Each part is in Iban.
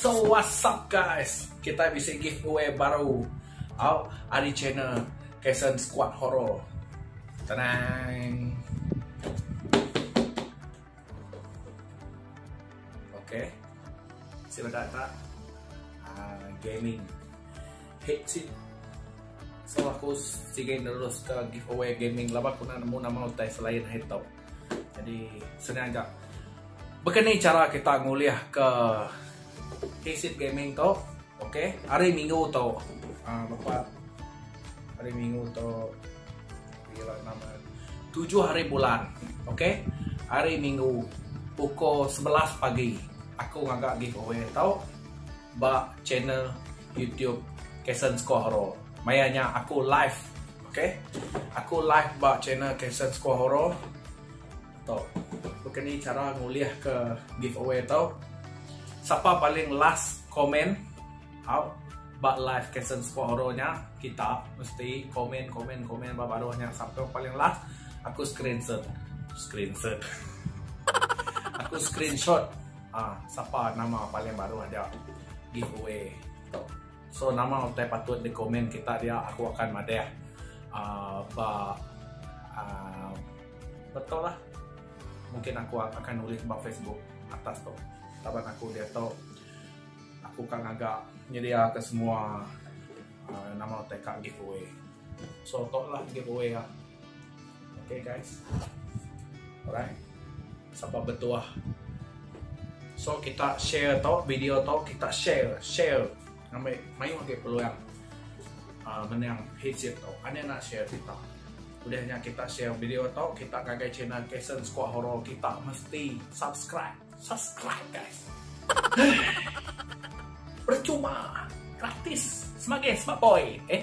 So what's up guys, kitai bisi giveaway baru au ari channel Kason Squad Horror. Tadang. Okay. Si benda tak uh, gaming headset. So aku si game terus ke giveaway gaming laba aku nak nemu nama utai selain headset. Jadi senang aja. Baka ni cara kita ngulih ke PC gaming tu. Okey, hari minggu tu. Ah, lepas hari minggu tu bila nama tujuh hari bulan. Okey. Hari minggu pukul 11 pagi aku ngaga giveaway tau ba channel YouTube Kesan Score Hero. Mayanya aku live Ok aku live ba channel Kason Squaw Horror tu baka ni chara ngulih ke giveaway tu sapa paling last komen au ba live Kason Squaw Horror nya kita mesti komen komen komen ba baru nya sapa paling last aku screenshot screenshot aku screenshot ah sapa nama paling baru ada giveaway tu. So nama utai patut di comment kita dia aku akan madah aaa ba aaa betul lah mungkin aku akan nulis ba facebook atas tu laban aku diatu aku ka ngaga nyedia ke semua aaa nama utai ka giveaway so tu lah giveaway a. Okay guys. Alright. Sapa betuah. So kita share tau video tau kita share share ngambil mayu ke peluang uh, menang hijab tau. Ane nak share kita. Udahnya kita share video tau kita kagai channel Kason Squad Horror kita mesti subscribe. Subscribe guys. Percuma. Gratis. Semangat, semangat boy. Eh.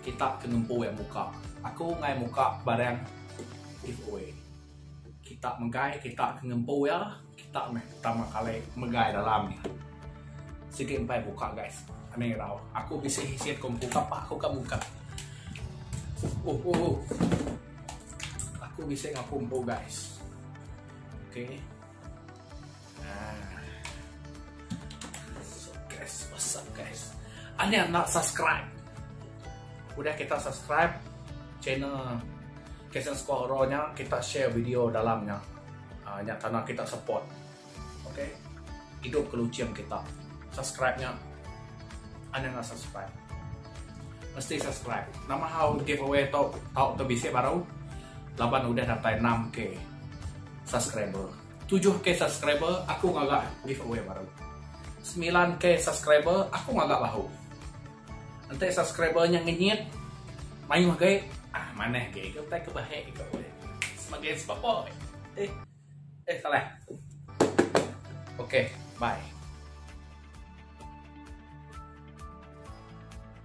Kita ke ngempu iya muka. Aku ngai muka barang giveaway. Kita megai kita ke ngempu iya. Kita meh pertama kali megai dalam nya. Sigi empai buka guys. Ani irau. Aku bisi isit ku muka pak aku ka muka. Oh oh oh. Aku bisi ngaku empu guys. Okay. Anya nak subscribe. Udah kita subscribe channel Kesen Squad Horror nya, kita share video dalam nya. Uh, nya tanah kita support. Okay? Hidup ke lucing kita. Subscribe nya. Anya nak subscribe. Mesti subscribe. Nama hal giveaway tau tau tu bisi baru. Laban udah datai 6k subscriber. Tujuh K subscriber aku ngaga giveaway baru. Semilan K subscriber aku ngaga bahu. Enti subscriber nya ngenyit mayuh gai ah manah gai ke utai ke bahek ke boleh. Sebagai sebab eh eh salah. Okay, bye.